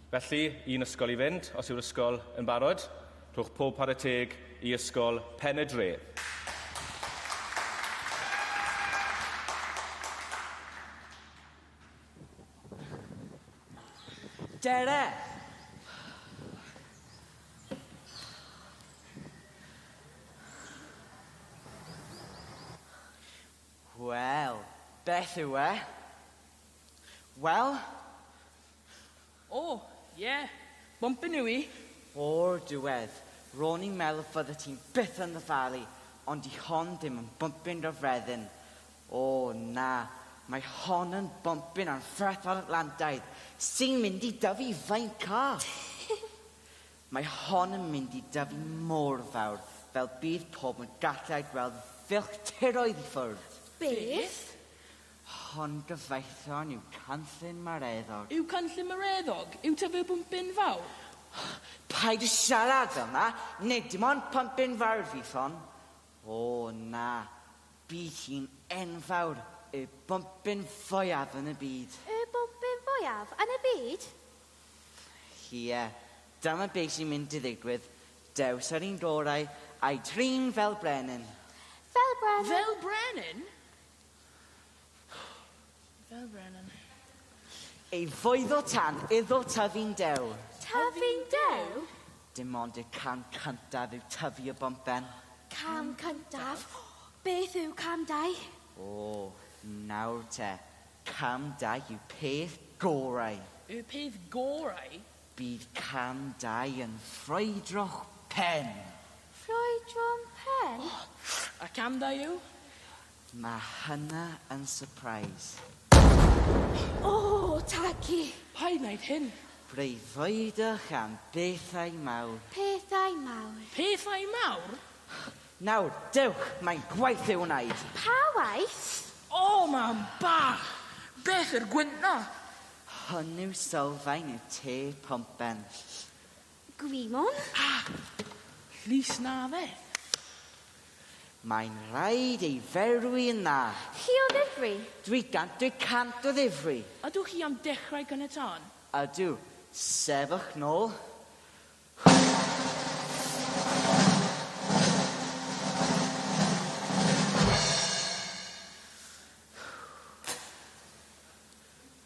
Felly, un ysgol i fynd, os yw'r ysgol yn barod. Rhowch pob para teg i Ysgol Pen y Dre. Dere! Wel, beth yw e? Wel? O, ie. Bwmpyn yw i. O'r diwedd, ro'n i'n meddwl fyddet ti'n byth yn ddyfalu, ond 'di hon ddim yn bwmpyn gyffredin. O, na, mae hon yn bwmpyn anferthol Atlantaidd, sy'n mynd i dyfu faint call! Mae hon yn mynd i dyfu mor fawr fel bydd pobl yn gallu ei gweld filltiroedd i ffwrdd. Beth? Hon gyfoethon yw canllyn Mareddog. Yw canllyn Mareddog, yw ta fe bump bin fawr? Paid a siarad fel 'na, nid dim ond pump bin fawr fydd hon. O, na, bydd hi'n enfawr, y bump bin fwyaf yn y byd. Y bump bin fwyaf yn y byd? Ie, dyma be' sy'n mynd i ddigwydd, dews yr un gorau, a'i drin fel brenin. Fel brenin? Fel brenin? Fel Brennan. Ei foeddo tan iddo tyfu'n dew. Tyfu'n dew? Dim ond y cam cyntaf yw tyfu y bumpen. Cam cyntaf? Beth yw cam dau? O, nawr te. Cam dau yw peth gorau. Y peth gorau? Bydd cam dau yn ffrwydro'ch pen. Ffrwydro'n pen? A cam dau yw? Mae hynna yn surprise. O, Taggi! Pa un aeth hyn? Breuddwydwch am bethau mawr. Pethau mawr. Pethau mawr? Nawr, dewch, mae'n gwaith i'w wneud. Pa waith? O, mam bach! Beth yw'r gwynt 'na? Hwn yw sylfaen y tê pompen. Gwymon? A! Llys na fe. Mae'n rhaid ei ferwi yn dda. Chi o ddifri? Dwi gant dwi cant o ddifri. Ydw chi am dechrau caniatâd? Ydw. Sefwch nôl.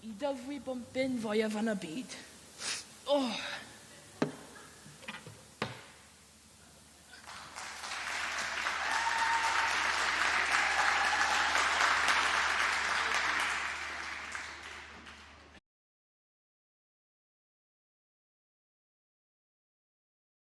Y dyfwi bombyn fwyaf yn y byd. Oh!